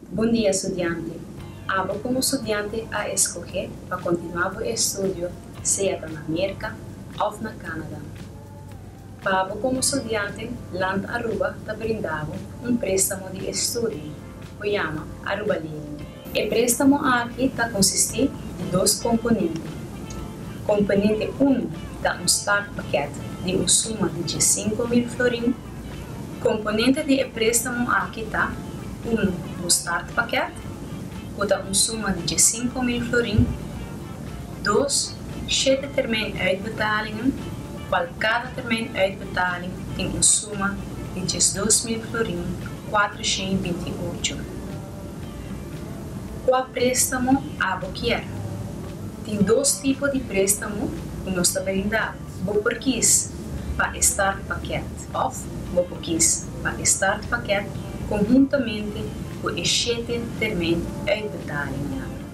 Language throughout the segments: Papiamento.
Bon dia studiante. Abo komo studiante a eskohé pa kontinuá bo estudio sea ta na Merka òf na Kanada. Pa bo komo studiante, Land Aruba ta brinda bo un préstamo di estudio ku yama Aruba Lening. E préstamo aki ta konsistí di dos komponente. Komponente uno ta un start pakèt di un suma di diessinko mil florin. Komponente di e préstamo aki ta, unu un startpakèt, ku ta un suma di djessinku mil florin, dos shete termijn uitbetalingen, kual kada termijn uitbetaling tin un suma di djesdos mil florin, kuater shei i binti i ocho. Kua préstamo abo kier? Tin dos tipo di préstamo ku nos ta brinda. Bo por kies pa e start paket of bo por kies pa e start paket konhuntamente ku e shete termijn uitbetaling yamber.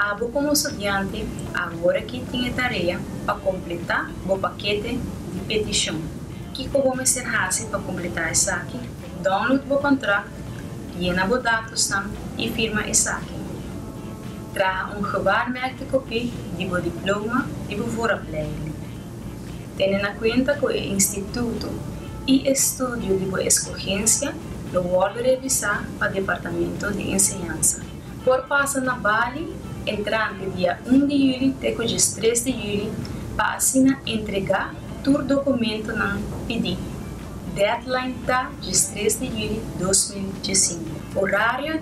Abo komo studiante aworaki tin e tarea pa kompletá bo pakete di petishon. Kiko bo mester hasi pa kompletá esaki? Download bo kontrakt, yena bo datosnan i firma esaki. Traha un gebaar merkte kopie di bo diploma i bo vooropleiding. Tene na kuenta ku e instituto i e studio di bo eskogensia lo wòrdu revisá pa Departamento di Enseñansa. Por pasa na Bali entrante dia un di yüli te ku djes tres di yüli pa asina entregá tur dokumentonan pidí. Deadline ta djes tres di yüli dos mil djessinku. Orario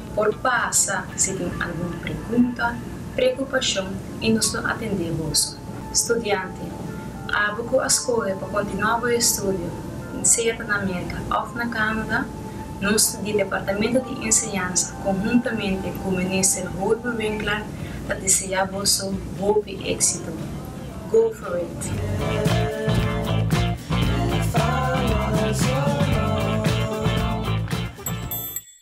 Por pasa si tin algun pregunta, preokupashon i nos lo atendé boso. Studiante, Abo ku a skohe pa kontinuá bo estudio, sea ta na Merka òf na Kanada, nos di Departamento di Enseñansa konhuntamente ku Minister Holber Winkler ta deseá boso hopi éksito. Go for it!